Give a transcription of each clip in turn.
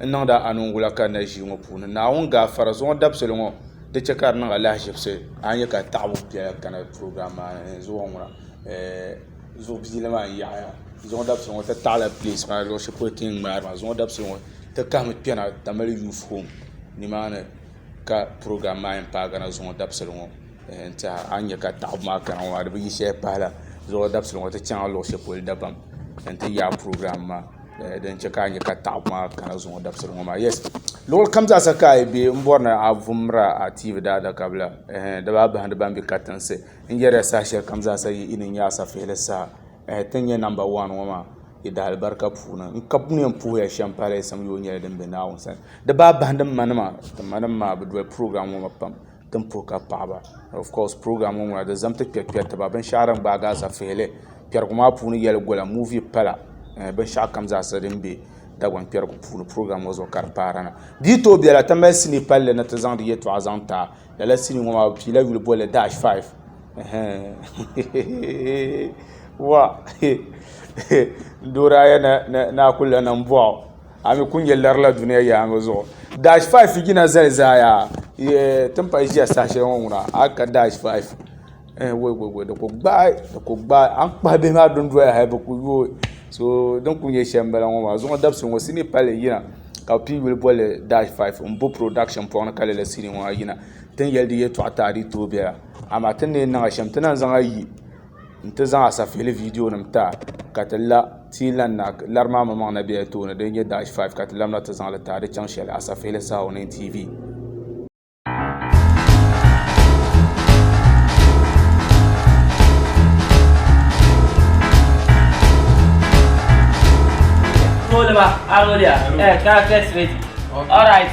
n niŋdi a anungula ka n na ʒii ŋɔ puuni. Naawuni gaafara zuɣu dabisili ŋɔ di che ka di niŋ alahiʒibisi a ni nya ka taɣibu biɛla kana program maa ni zuɣu ŋɔ na ɛɛh zuɣu biili maa n yaɣiya zuɣu dabisili ŋɔ ti taɣila place maa luɣi sheli polo ti ni ŋmaari maa zuɣu dabisili ŋɔ ti kahimi kpena Tamale youth home nimaani ka program maa yen paagi na zuɣu dabisili ŋɔ. n tiɛha a ni nyɛ ka taɣabu maa kana ŋɔ maa di bi yi shɛli pahala zuɣu dabisili ŋɔ ti chɛŋ a luɣu shɛli polo dabam n ti yaai pirogiraam maa din chɛ ka a nyɛ ka taɣabu maa kana zuŋɔ dabisili ŋɔ maa yɛs luɣuli kam zaa sa ka a yi bɛ n bɔri ni a vumdila a tiivi daadaka bila di baa bahindi ban bɛ katiŋsi n yɛrila saha shɛli kam zaa sa yi ni nyɛ a safihili saha ti ni nyɛ namba waan ŋɔ maa yi daali barika puuni n ka mi yɛn puhuya shɛm pahalayisim yooi nyɛla din bɛ naawuni sani di baa bahindi n manima ti manima maa bi doli pirogiraam ŋɔ maa pam Tin puhi ka paɣaba of course program ŋɔ ŋuna di zam ti kpɛri kpɛri tiba binshɛɣu din gbaagi asafihili kpɛrigu maa puuni yɛli gola movie pala eh, binshɛɣu kam zaasa din be Dagban kpɛrigu puuni program ŋɔ zuɣu ka di paara na di yi tooi bela ti mali sinii palli ni ti zaŋdi yɛltɔɣa zaŋ taa lala sinii ŋɔ maa bɛ piila yuli bolli dash five wa n dooraya ni a kuli lana m bɔɣu a mi ku nyɛ lari la duniya yaangi zuɣu dash five jina zali zaaya yee tin pahi ʒiya saha shɛli ŋɔ ŋuna a yi ka dash five ɛɛh woi woi woi di ku gbaai di ku gbaai a ni kpahi bihi maa dundoya hali bi ku yooi so din ku nyɛ shɛm m-bala ŋɔ maa zuɣu dabisi ŋɔ sinii pali li yina ka bɛ pii yuli boli li dash five m bo production pɔŋ ni ka lala sinii ŋɔ maa yina tin yɛli di yɛltɔɣa ti a di yi tooi bela amaa ti ni yɛn niŋ a shɛm ti lahi zaŋ a yi n ti zaŋ Asafihili viidiyo nim taai ka ti la ti yi lan naai lari maa maŋmaŋ na bela tooni din nyɛ Dash 5 ka ti lamda ti zaŋ li taai di chaŋ shɛli Asafihili Saha Onee TV. Tolima, Arolia, eh, characters ready. All right.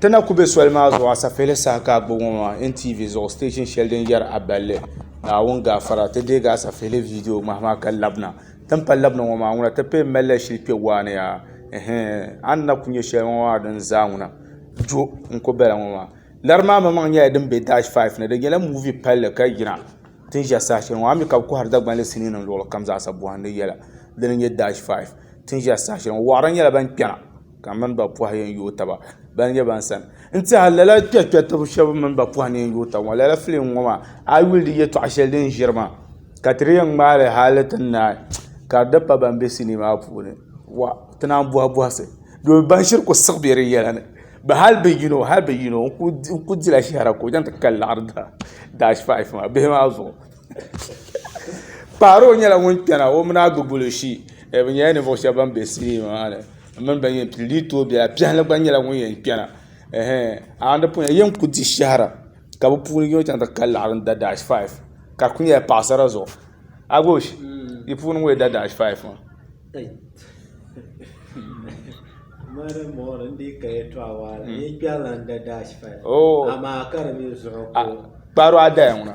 Ti na ku be soli maa zuɣu asapihili saha ka a gbubi ŋɔ maa NTV zuɣu station shɛli din yɛri A Balli, Naawuni Gaafara. Ti deegi asapihili viidiyo ŋmahi maa ka labina. Tin pa labina ŋɔ maa, ŋuna ti pee m-mali la shili kpe waa ni yaa. Ɛhɛɛ! A ni na ku nya shɛli ŋɔ maa din zaa ŋuna jo n-ku bala ŋɔ maa. Lari maa maŋmaŋ nyɛla din be Dash Five ni. Di nyɛla movie palli ka yina ti ni ʒe saha shɛli ŋɔ. A mi ka bɛ kɔhiri Dagbanli siniinim luɣilikam zaasa bɔhindi yɛla di ni nyɛ Dash Five ti ni ʒe saha shɛli ŋɔ. Wɔɣiri nyɛla ban kpɛna. Ka n mini ba pɔhi yɛn yooi taba ban nyɛ ban sani. N tɛha lala kpɛkpɛtiba shɛba n mini ba pɔhi ni yɛn yooi taba ŋɔ. Lala filim ŋɔ maa, a yi yuli di yɛtɔɣ shɛli din ʒiri maa, ka ti di yɛn ŋmaai li hali ti naai, ka di di pa ban be sinii maa puuni. Wah! Ti naan bɔhi bɔhisi. Domi ban ʒiri ku siɣi be di yɛla ni. Bɛ hali bɛ yino, hali bɛ yino n-ku dila shɛhira ka o chaŋ ti kali laɣiri daa, dash five maa, bihi maa zuɣu. Paaro nyɛla ŋun kpɛna o mini Agbogbo shi bi nyɛla ninvuɣu shab ban bɛ sinima maa ni n mini ban yɛn dii tooi biɛla biɛhali gba nyɛla ŋun yɛn kpɛna yɛn ku di shahara ka bi puuni yino chɛŋ ti kanli n da daash faif ka di ku nyɛla paɣasara zuɣu Agoosh di puuni n ŋun yɛn da daash faif maa Kpaaro a daya ŋuna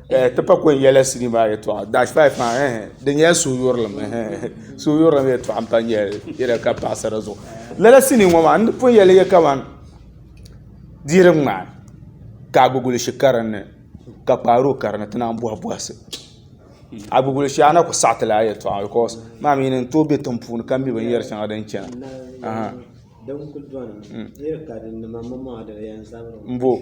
Eh, ti pa kɔn yɛla sini maa yɛtɔɣa dash five maa eh, eh di nyɛla suhuyurilim eh, eh, suhuyurilim yɛtɔɣa n pa nyɛli yɛla ka paɣasara zuɣu lala sini ŋɔ maa n di pun yɛli yɛ kaman diiri ŋmaa ka agbigulishi karinni ka kpaaro karinni ti naan bɔhi bɔhisi agbigulishi ana ku saɣiti la yɛtɔɣa because maa mi n tooi be tiŋ puuni ka mi binyɛri shɛŋa din chana mm. n bo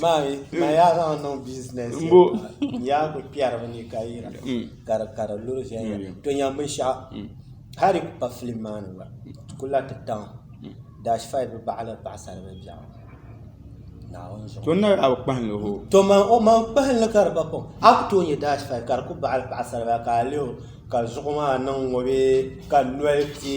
Maami, maa yaa zaŋ niŋ business. Mbo. Yaa ku kpɛri bi ni ka yira. Mm. Ka di ka di luri viɛnyɛla. Mm. To nyam binshaɣu. Mm. Hali ku pa film maa ni gba. Ti ku la ti taŋ. Mm. Dash five bi baɣali paɣasari bi biɛɣu. Naawuni zuɣu. To nari a bi kpahinli hoo. To man o man kpahinli ka di ba kom. A ku tooi nyɛ dash five ka di ku baɣali paɣasari bi ka a lihi o ka zuɣu maa niŋ ŋɔ bee ka noli ti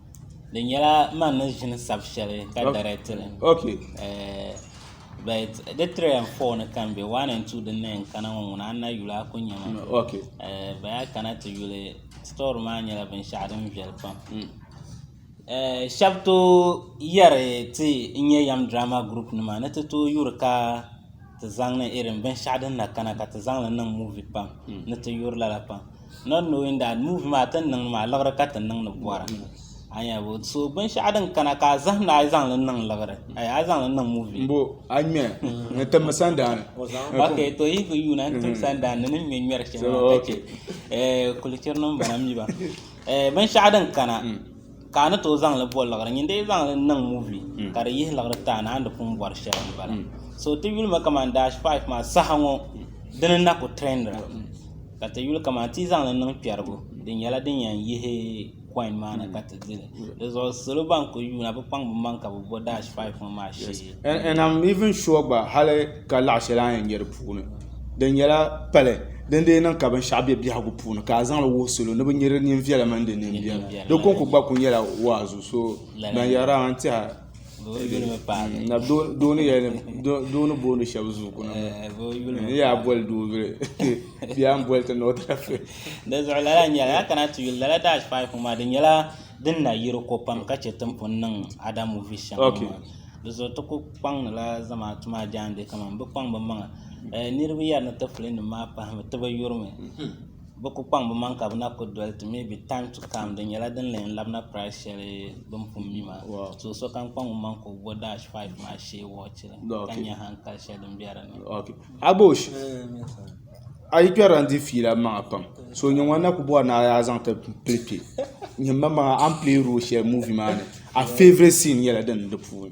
di nyɛla man ni ʒini sabi shɛli ka dɛrɛkti li bɛt di tiri and fɔɔ ni ka m-be waan and tuu din na yɛn kana ŋɔ ŋuna ana yuli a ku nya ma baya a kana ti yuli sitɔri maa nyɛla binshɛɣu din viɛli pam shɛba tooi yɛri ti n-nyɛ yɛm diraama gurupunima ni ti tooi yuri ka ti zaŋ irin binshɛɣu din na kana ka ti zaŋ li niŋ muuvi pam ni ti yuri lala pam not knowing that move maa ti ni niŋdi maa liɣiri ka ti niŋdi bɔra a nya bo so binshɛɣu din kana ka a zahimda a yi zaŋ li niŋ liɣiri ayi a yi zaŋ li niŋ movie mbo a ŋmɛ n timmi sandaani ok to yi ku yuuna n tim sandaani ni ni ŋmɛ ŋmɛri shɛli maa ka chɛ eh, kulichiri ni m bala m mi ba Eh, binshɛɣu din kana ka a ni tooi zaŋ li boli liɣiri nyin di yi zaŋ li niŋ muvi hmm. ka di yihi liɣiri taa ni a ni pun bɔri shɛli n bala hmm. so ti yuli ma kamani dash five maa saha ŋɔ hmm. dini na ku trendira ka ti yuli kamani ti zaŋ li niŋ kpɛrigu di nyɛla din yɛn yihi coin maa ni ka ti dili di zuɣu salo ban ku yuuna bi kpaŋ bi maŋ ka bi bo dash five ŋɔ maa shee And am even sure gba hali ka laɣ shɛli a ni yɛn nyɛ di puuni di nyɛla pali din dii niŋ ka binshɛɣu bɛ biɛhigu puuni ka a zaŋli wuhi salo ni bi nyɛ di neen viɛla mini di neen biɛla di kɔŋko gba ku nyɛla waazu so ban yɛri dama n tiɛha doo ni boondi shab zuɣu ku niŋ n ni yaa boli doo zuɣu bee a ni boli ti ni o ti lahi fɛ di zuɣu lala nyɛla ya kana ti yuli lala dash five ŋɔ maa di nyɛla din na yiri ko pam ka chɛ timpuni niŋ ada muvi shɛŋa maa Dizuɣu ti ku kpaŋdila zamaatu maa jaangbee kamani bi kpaŋ bi maŋa niraba yɛri ni ti fili nim maa pahami ti bi yurimi bi ku kpaŋ bi maŋ ka bi na ku doli ti mɛbi taim tu taim di nyɛla din na yɛn labina pirais shɛli bi ni pun mi maa ka sokam kpaŋ ŋun maŋ ka o bo daash faif maa shee woochi la ka nyɛ hankali shɛli din bɛ dinni a yi kpɛrila n di fiila n maŋa pam so nyɛ ŋun na ku bɔri ni a yaa zaŋ ti pili kpɛ n nyɛ n maŋmaŋa a ni pileeri rool shɛli muuvi maa ni a feevurɛt siin nyɛla din bɛ di puuni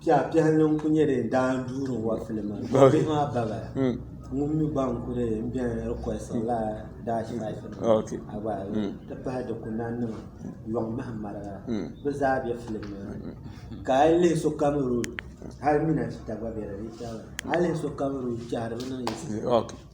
Piɛɣipiɛɣili n-kuli nyɛ din daai n-duuri n-wa fili maa bihi maa babaaya hmm. ŋun mi gba n-kuli n beni request la dash life ah, a gba hmm. ti pahi dikunanima yɔŋ mahim maraga hmm. bɛ zaa be fili maa ka a yi lihi sokam road hali minasita gba be di ni hali lihi sokam road chɛhiri bɛ niŋ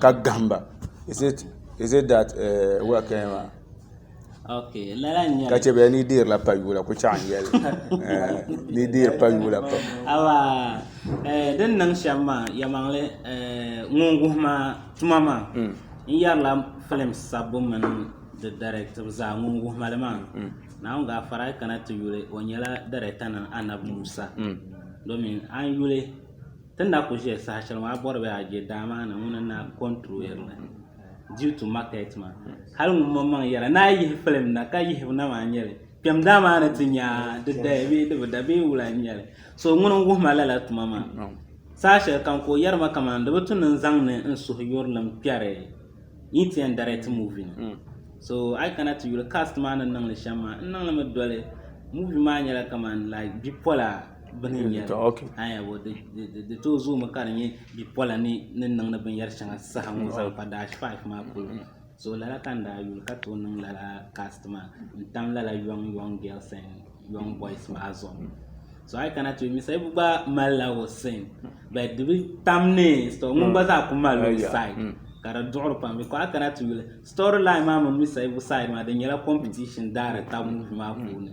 ka gahim ba is it is it that uh, where can you are? Okay, lala nyɛli. Ka che bɛ ni deer la pa yula ku chaɣan yɛli. Eh, ni deer pa yula pa. Awa, eh, din niŋ shɛm maa, yɛmaŋli, eh, ŋun wuhi maa tuma maa, mm. n yɛrila filim sabbu mini di directive zaa ŋun wuhi mali maa. Mm. Naawuni gaa fara kana ti yuli, o nyɛla director na Anab Musa. Mm. Domin an yuli Ti ni na ku ʒiya saha shɛli maa a bɔri bee a je daa maa ni ŋuni n-na controiri li due to market maa. Hali ŋun mom maŋ yɛla ni a yihi film na ka yihibu na maa n-nyɛ li. Kpɛm daa maa ni ti nya di daya bee di bi da bee wula n-nyɛ li. So ŋuni n-wuhi ma lala tuma maa. Saha shɛli kam ka o yɛri ma kaman di bi tu ni n-zaŋ ni n suhuyurilim kpɛri yi ti yɛn direct movie ni. Hmm. So a yi kana ti yuli cast maa ni niŋ li shɛm maa n niŋ li mi doli movie maa nyɛla kaman like bipola. bini n nyɛri aya ŋɔ di too zooi mi ka di nyɛ bipola ni ni niŋdi bin yari shɛŋa saha ŋɔ zaŋ kpa daash faaf maa polo so lala ka n daa yuli ka too niŋ lala kaast maa n tam lala yɔŋ yɔŋ gɛls ɛn yɔŋ bɔis maa zuɣu so a yi kana ti yuli mi sayibu gba mali la o sin bɛt di bi tam ni sitɔ ŋun gba zaa ku mali o said ka di duɣiri pam bikɔ a kana ti yuli sitɔri lain maa mini mi sayibu said maa di nyɛla kɔmpitishin daari taba muuvi maa puuni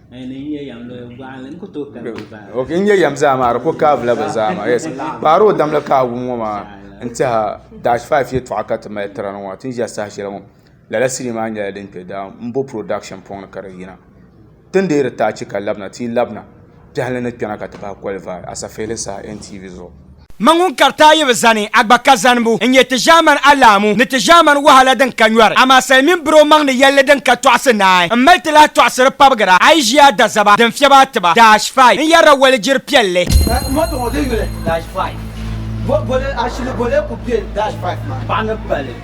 oke n nyɛ yɛm zaa maa di ku kaai la bi zaa maa yes kpaari o dam la ka a wum ŋɔ maa n tiɛha dash five yɛltɔɣa ka ti mali tiri ni ŋɔ ti ni ʒɛ saha shɛli ŋɔ lala sinii maa nyɛla din kpɛ daa n bo production puuni ka di yina ti ni deeri tachi ka labina ti yi labina biɛhili ni kpɛna ka ti bahi kɔlivaai asafihili saha NTV zuɣu Mɛ ŋun kari ti a yi bi zani, a gba ka zanibu n-nyɛ ti ʒiɛmani alahimu ni ti ʒiɛmani wahala din ka nyɔri. Amaa sali mini biri o maŋ ni yɛlli din ka tɔɣisi naai. M mali ti lahi tɔɣisiri pabigira a yi ʒi a dazaba din fiɛbi a tiba. Dash five, N yɛrila walijiri piɛlli. Moto ŋɔ di yuli. Dash five, Bole ashili bole ku kpe dash five maa paɣa ni pali.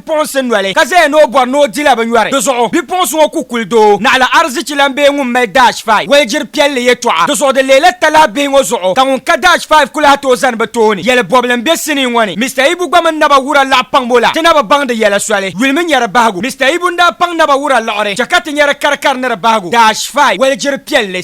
bipuɣinsi noli ka zaya ni o bɔri ni o dila binyɔri. Di zuɣu bipuɣinsi ŋɔ ku kuli doo naɣila arizichi lan bee ŋun mali Dash Five waligyiri piɛlli yɛtɔɣa. Di zuɣu di leela talahi bihi ŋɔ zuɣu ka ŋun ka Dash Five ku lahi tooi zani bɛ tooni yɛli bɔbili m-be sinii ŋɔ ni. Mister Ibu gba mini Naba Wura laɣi paŋbu la ti na bi baŋ di yɛla soli yulimi nyari bahigu. Mister Ibu n-daa paŋ Naba Wura liɣiri chɛ ka ti nyari karikari ni di bahigu Dash Five waligyiri piɛlli.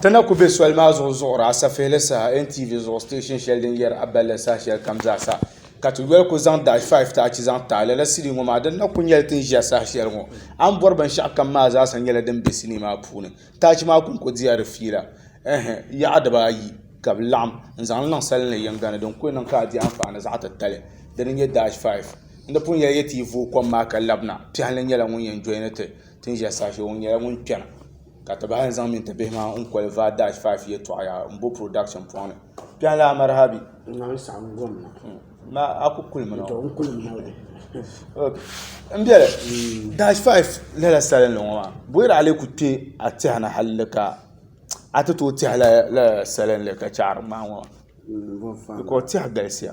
Ti na ku be soli maa zuɣu zuɣuri asafeeli saha NTV zuɣu station sheli din yeri a balli saha sheli kam zaa sa ka ti yoli ku zaŋ dash five ti achi zaŋ taai lala sinii ŋɔ maa din na ku nyeli ti ni ʒia saha sheli ŋɔ. A ni bori binshɛɣu kam maa zaa sa nyela din be sinii maa puuni. Tachi maa ku ku diya di fiila ehe yaɣa dibaa ayi ka bi laɣim n zaŋ li niŋ sali ni yiŋga ni din ku niŋ ka a di anfaani zaɣa ti tali di ni nye dash five. N ni pun yeli ya ti yi vooi kom maa ka labina piɛhili nyela ŋun yen joini ti. ti ni ʒiya saha shɛli ŋɔ nyɛla ŋun kpɛna ka ti bahi ni zaŋ mini ti bihi maa n koli vaa daash faafi yɛltɔɣa yaa n bo purodaksin puuni kpɛŋ lan amaraha bɛ a ku kuli mi na n biɛli daash faafi lala salinli ŋɔ maa booyɛri a lee ku kpɛ a tiɛhi ni halli ka a ti tooi tiɛhi lala salinli ka chaari ŋmaai ŋɔ maa bikɔs tiɛhi galisiya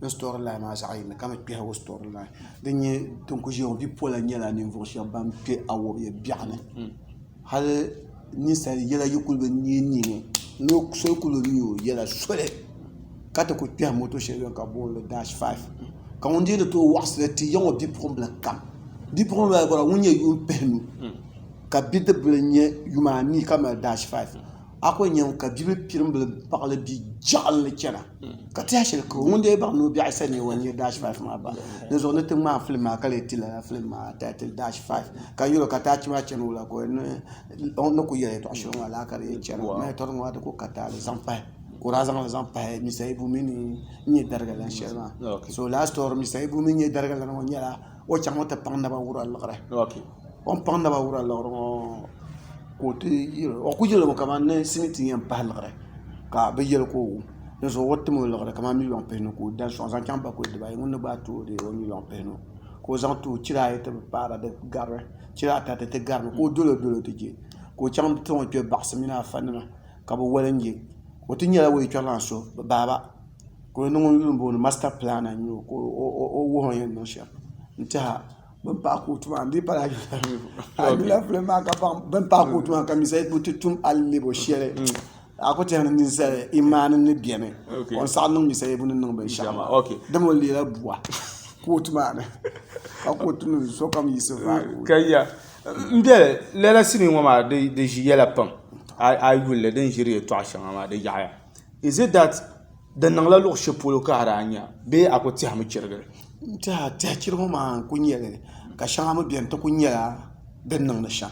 ni sitori lahi maa zaɣ yini ka bi kpihiro sitori lahi din nyɛ din ku ʒiya ŋɔ bipola nyɛla ninvuɣu shab ban kpɛ awɔbi biɛɣu ni hali ninsal yɛla yi kuli bi niɛ niɛ ŋɔ ni so ku bi niɛ o yɛla soli ka ti ku kpɛhi moto shɛli bɛni ka bi booni dash faaf ka ŋun dii ni tooi waɣasili ti yɛ ŋɔ bipuɣunbili n kam bipuɣungi maa ŋun nyɛ yuun pihinu ka bidib bili nyɛ yumaa anii ka mali dash faaf a ko nyɛm ka bibil pirimbil baɣili bi jɛɣili ni chana ka tiɛha shɛli kuro ŋun dee baŋ ni o biɛɣu sani ni o nya daash faif maa bahi di zuɣu ni ti ŋmaai filim maa ka lee ti lala filim maa taitil daash faif ka yɛl o ka taach maa chani o la ka o ni ku yɛli yɛtɔɣ shɛli ŋɔ laa ka di yɛn chani o maa yɛtɔɣ maa di ku ka taali zaŋ pahi ka o daa zaŋli zaŋ pahi Mista Ibu mi ni n nyɛ dariga lan shɛli maa so laasitɔri Mista Ibu mi ni n nyɛ dariga lan ŋɔ nyɛla o chaŋmi ti paŋ naba wura liɣiri O ni paŋ naba wura liɣiri ŋɔ ka o ti yɛli o ku yɛlimi kamani ni simiti yɛn pahi liɣiri ka bi yɛli ka o wum dinzuɣu o bi tim o liɣiri kamani miliyon pihinu ka o da sɔŋ zaŋ chaŋ bakuli dibaayi ŋuni ni gbaai tooi deei o miliyon pihinu ka o zaŋ ti o chira ayi ti bi paara di garili chira ata di ti garimi ka o dolo dolo ti je ka o chaŋ ti o kpɛ baɣasi mini afa nima ka bi woli n je o ti nyɛla o yi chɔri lan so bi baaba ka o ni ŋun yuli n booni masita pilana n nyɛ o ka o wuhi o ni yɛn niŋ shɛm n tiɛha bin paɣi kootu maa di pala alɛpilɛ maa ka baŋ bin paɣi kootu maa ka mi zali bi ti tum alɛbo shɛli a ku tɛha ni ni zali imaani ni bɛni ka n saɣi niŋ mi sali bu ni niŋ binshɛɣu maa dama o leela buwa kootu maa ni ka kootu nim sokam yiɣisi vaayi n biɛli lala sinii ŋɔ maa di ʒi yɛla pam a yi yuli li din ʒiri yɛtɔɣa shɛŋa maa di yaɣaya is it dat Di niŋla luɣ shɛli polo ka a daa nya bee a ku tɛhimi chirigi? N-tɛha tɛhi chirigu maa n-ku nya li ka shɛŋa mi beni ti ku nyɛla din niŋdi shɛm.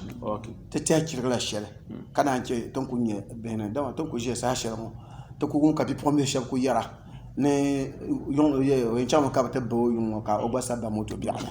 Ti tɛhi chirigila shɛli ka naan chɛ ti ni ku nya bihi ni dama ti ni ku ʒiya saha shɛli ŋɔ ti ku wum ka bipuɣimbihi shɛba ku yɛra ni o yɛn chaŋmi ka bɛ ti ba o yuŋ ŋɔ ka o gba sa ba moto biɛɣuni.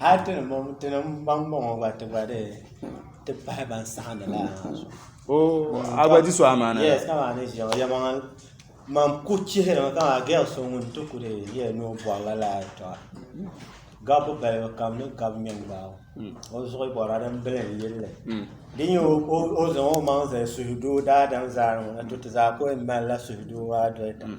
Hal ti ni bɔŋ ti ni baŋ bɔŋɔ gba ti gba di ti pahi ban saɣindi la ha zuɣu. Oh, a gba di so amaana. Yes, kama a ni ʒiya ŋɔ yɛmaŋa man ku chihiri mi kama girl so ŋun ti ku di yɛ ni o bɔri la laa yɛltɔɣa gabu balibu kam ni gabu mini gbaai hmm. o zuɣu bɔra din bili n yilli hmm. di nyɛ o zaŋ o maŋ zali suhudoo daadam zaa ni ŋɔ na to ti zaa ko n mali la suhudoo maa doli ta hmm.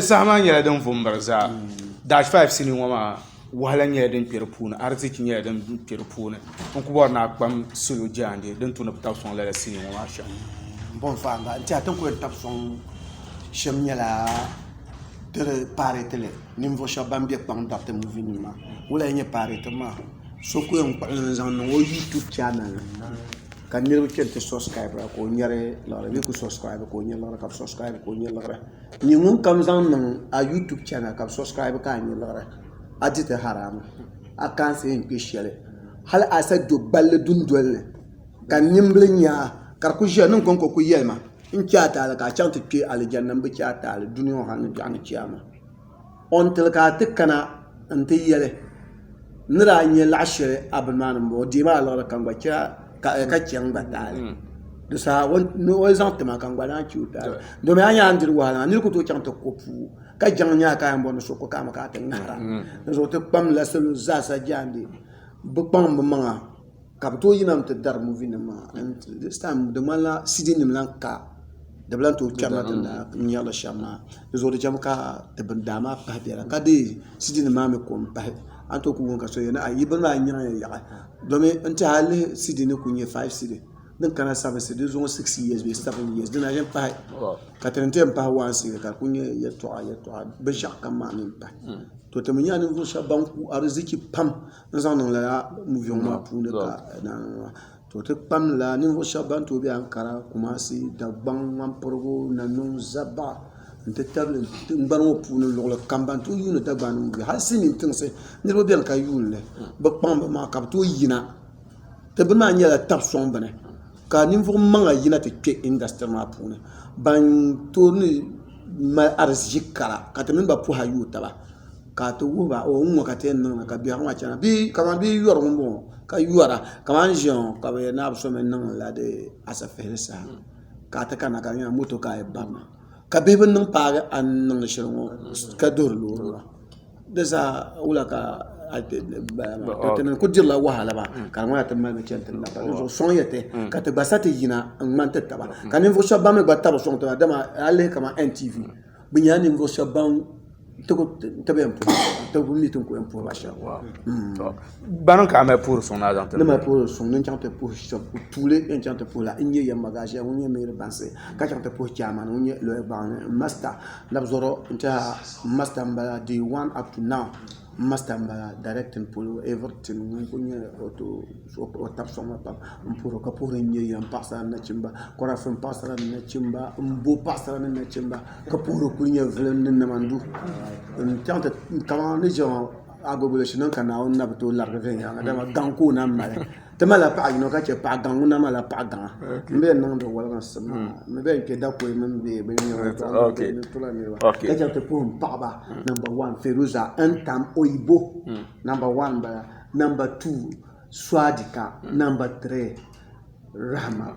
Saha nyɛla din vu n miri zaa dash faaf sinii ŋɔ maa wahala nyɛla din kpɛ di puuni ariziki nyɛla din kpɛ di puuni n ku bori ni a kpam salo jiŋli din tu ni bi tabi sɔŋ lala sinii ŋɔ maa shɛm ka niriba kpɛm ti subscribe ka o nyɛri liɣiri bee kuli subscribe ka o nyɛ liɣiri ka bɛ subscribe ka o nyɛ liɣiri nyɛ ŋunkam zaŋ niŋ a YouTube channel ka bɛ subscribe ka a nyɛ liɣiri a di ti haram a kaansi yɛn kpe shɛli hali a sa do gballi dundoli ni ka nimbili nyaa ka di kuli ʒiya niŋ kɔŋko kuli yɛli ma n che a taali ka a chaŋ ti kpe alijanna m bi che a taali duniya ŋɔ ha ni biɛɣuni che a ma Until ka a ti kana nti yɛli, Ni daa nya laɣ shɛli a bini maa ni m-bɔŋɔ, deei ma a liɣiri ka n gba chɛ a ka chɛ n gba taali. Di saha o ni zaŋ ti ma ka n gba daa chɛ o taali. Domin a nya a ni diri wahala maa, nir ku tooi chaŋ ti ko puu ka jaŋ nya a ka a yɛn bɔri ni so ku kaami ka a ti ŋahir a. Dinzuɣu ti kpamdila salo zaasa jaande, bɛ kpaŋm bɛ maŋa. ka bi tooi yina n ti dari muvi nim maa dis taim di ŋmanila sidin nim lahi ka di bi lahi tooi kpɛri na ti ni daa ŋmɛrili shɛm maa di zuɣu di chɛmi ka ti bin daa maa pahi biɛla ka deei sidin nim maa mii ko n pahi a ni tooi ku wum ka so yɛli ni ai yi bini maa n nyaŋ ya yaɣi domin n tiɛhi a yi lihi sidin ni ku nyɛ faiv sidin din kana sabisi di zuɣu siks iyees bee sabin iyees dina n yɛn pahi ka ti ni ti yɛn pahi waan sidin ka di ku nyɛ yɛltɔɣa yɛltɔɣa binshaɣu kam maa mii n pahi to ti mii nyɛla ninvuɣu shab ban ku ariziki pam n zaŋ niŋ lala muvi ŋɔ maa puuni ka naanŋɔ maa to ti kpam lila ninvuɣu shɛba ban tooi bɛ Ankara Kumasi Dagbaŋ Ŋmanpirigu Nanɔŋ Zaba n ti tabili tingbani ŋɔ puuni luɣuli kam ban tooi yuuni Dagbaŋ ni muvi hali siniin tinsi niriba bɛ ni ka yuuli li bi kpaŋ bi maŋa ka bi tooi yina ti bini maa nyɛla tabi sɔŋ bini ka ninvuɣu maŋa yina ti kpɛ indasitiri maa puuni ban tooi ni mali ariziki kara ka ti mini ba pɔhɛ yuui taba. ka ti wuhi ba o ŋɔ ka ti yɛn niŋda ka biɛhigu maa chana bee kamani bia yɔri ŋɔ m-bɔŋɔ ka yɔra kamani ʒiya ŋɔ ka bɛ yɛli ni a bi so mi niŋ la di asipihili saha ka ti kana ka di nyɛla moto ka a yɛn barina ka bihi bi niŋ paagi a ni niŋdi shɛli ŋɔ ka duhiri loori maa di zaa wula ka ti niŋ ti kuli dirila wahala maa ka di ŋmanila ti mali mi chani tiŋ la ka di zuɣu sɔŋ yɛtɛ ka ti gba sa ti yina n-ŋmani ti taba ka ninvuɣ shɛba ban mi gba tabili sɔŋ tiŋa dama a yi lihi kamani NTV Bɛ nyɛla ninvuɣu shɛba ban tabi yɛn puhi tabi wum ni ti ko yɛn puhi maa shɛba waaw hmm. bani ka a mali puhiri suŋ na zaŋ ti ni mali puhiri suŋ ni chaŋ ti puhi shɛba tuuli yɛn chaŋ ti puhi la n nyɛ yɛn magaʒiya ŋun nyɛ meeri bansi ka chaŋ ti puhi chairman ŋun nyɛ lɔya gbaŋ masta labzɔrɔ n tiɛha masta n bala day one up to now N masta n bala directing polo everything ŋun kuli nyɛ o tabi soŋ ma pam n puhiri o ka puhiri n nyɛ ya n paɣasara ni nachimba kurafi n paɣasara ni nachimba n bo paɣasara ni nachimba ka puhiri kuli nyɛ vilim ni nama n du n chaŋ ti kamani ni ʒiya ŋɔ agogo shee niŋ ka Naawuni na bi tooi larigi viɛnyɛliŋga dama gaŋ ka o naai mali Ti malila paɣa yino ka chɛ paɣa gaŋ ŋun na malila paɣa gaŋa n bɛn niŋdi woliginsi maa ni bɛn kpɛ dakɔi mini bɛ binyɛra ni tula niriba ka chɛ ti puhim paɣaba namba wan Feruza Ntam Oyibo namba wan m-bala namba tuu Suadika namba tirii Rahma.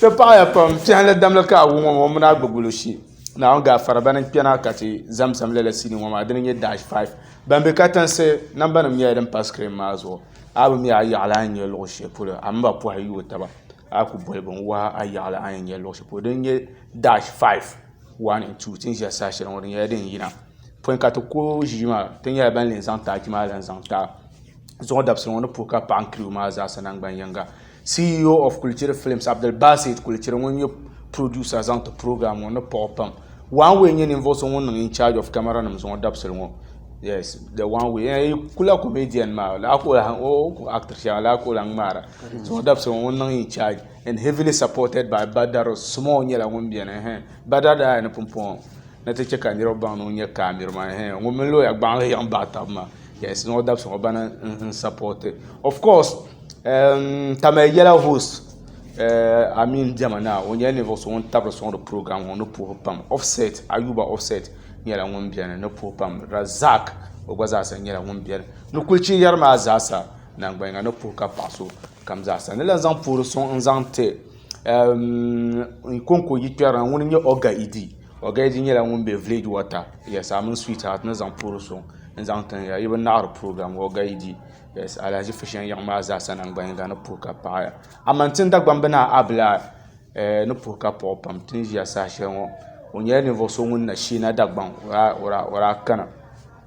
Ti paɣiya pam piɛlli damli ka a wum ŋɔ mini a gbubi lusi Naawuni gaafara bana n-kpɛna ka ti zamzam lala sinii ŋɔ maa dini n-nyɛ Dash 5. Ban be katiŋsi nambanima nyɛla din pa sikirin maa zuɣu a bi mi a yaɣili a ni nya luɣ shɛli polo a mini ba pɔhi n-yooi taba a ku boli binwala a yaɣili a ni nya luɣ shɛli polo dini n-nyɛ Dash 5 1 and 2 ti ni ʒiya sa shɛli ŋɔ di nyɛla din yina pɔi ka ti ku ʒii maa ti nyɛla ban zaŋ tachi maa zaŋ ti a. zuɣu dabisili ŋɔ ni puhi ka paɣi n crew maa zaasa nangban yiŋga. CEO of Kulichiri Films, Abdulbasit Kulichiri ŋun nyɛ producer zaŋ ti program ŋɔ ni paɣi o pam. One Way nyɛ ninvuɣu so ŋun niŋ in charge of camera nim zuɣu dabisili ŋɔ. Yes, the one way. Eh, yi ku la comedian maa, laa ku o lahi, o ku actor shɛŋa, laa ku o lahi ŋmaara. Zuɣu dabisili ŋɔ ŋun niŋ in charge and heavily supported by Badar Small nyɛla ŋun beni, eh, Badar daa ya ni pumpɔŋɔ ni ti chɛ ka niriba baŋ ni o nyɛ camera man, eh, ŋun mini lawyer gbaŋ li yiɣi baɣi taba maa. Yes, no dabs ŋɔ bana n support it. Of course, um, tama yɛla host uh, I mean dɛma na o nyɛla ninvuɣu so ŋun tabiri sɔŋdi program ŋɔ ni puhi pam. Offset, Ayuba Offset nyɛla ŋun bɛni ni puhi pam. Razak o gba zaasa nyɛla ŋun bɛni ni kulichi yɛri maa zaasa nangbayiŋa ni puhi ka paɣa so kam zaasa ni lan zaŋ puhiri sɔŋ n zaŋ ti um, Nkonko yikpɛri na ŋuni n-nyɛ Oga Idi. Ogaidi nyɛla ŋun be Village Water, yes, a mini Sweetheart ni zaŋ puhiri so n-zaŋ tin ya. Yi bi naɣiri program Ogaidi, yes, Alahaji Fusheŋ yiɣi maa zaasa naŋgban yiŋga ni puhi ka paɣi ya. Aman tin Dagbamb Naa Abla eh ni puhi ka paɣi o pam tin ʒiya saha shɛli ŋɔ. O nyɛla ninvuɣ so ŋun na Sheena Dagbaŋ, o daa, o daa, o daa kana.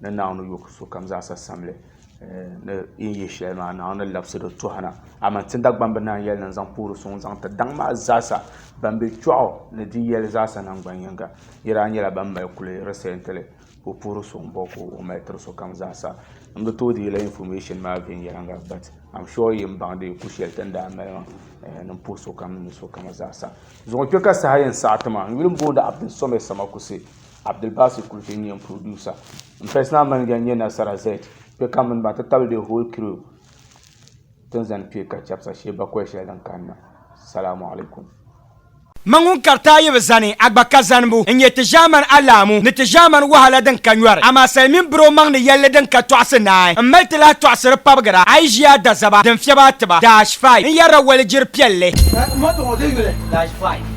Ni Naawuni yo ka sokam zaa sa sam li ni yi ni ye shɛli maa, Naawuni ni labsi di tɔhina. Amaa ti Dagbaŋ bi naan yɛli ni n-zaŋ poori suŋ zaŋ ti daŋ maa zaa sa, bɛn be kpiɔɣu ni di yɛli zaa sa naŋgban yiŋga, yi daa nyɛla bɛn mali kuli risɛnti li ka o poori suŋ bɔ ka o mali tiri sokam zaa sa. N bi tooi deei la information maa viɛnyɛliŋga but am sure yi ni baŋ di ku shɛli ti ni daa mali maa ni m puhi sokam ni sokam zaa sa. Zuŋɔ kpe ka saha yɛn saɣi ti ma, n yuli m-booni Abdul Samad Samakusi. Abdulbasi kuli ti nyɛ producer. M personal manager nyɛ Nasara Z. Kpe ka mini ba ti tabili the whole crew tin zani kpe ka chapsa shee bakɔi shɛli din kanna. Salamu alaikum. Mani ŋun kariti a yi bi zani a gba ka zanibu n-nyɛ ti ʒɛmani alahamu ni ti ʒɛmani wahala din ka nyɔri. Amaa sali mini biri o maŋ ni yɛlli din ka tɔɣisi naai m-mali ti lahi tɔɣisiri pabigira a yi ʒi a dazaba din fiɛbi a tiba. Dash five n-yɛrila walijiri piɛlli. Ka m ma tɔɣ o di yuli. Dash five.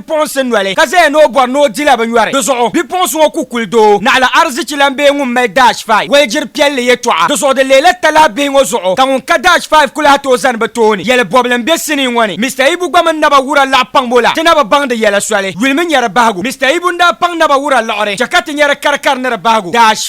bipuɣinsi noli ka zaya ni o bɔri ni o dila binyɔri. Di zuɣu bipuɣinsi ŋɔ ku kuli doo naɣila arizichi lan bee ŋun mali Dash Five waligiri piɛlli yɛtɔɣa. Di zuɣu di leela talahi bihi ŋɔ zuɣu ka ŋun ka Dash Five ku lahi tooi zani bɛ tooni yɛli bɔbili m-be sinii ŋɔ ni. Mister Ibu gba mini Naba Wura laɣi paŋ bo la ti na bi baŋ di yɛla soli. Yulimi nyari bahigu. Mister Ibu n-daa paŋ Naba Wura liɣiri chɛ ka ti nyari karikari ni di bahigu. Dash.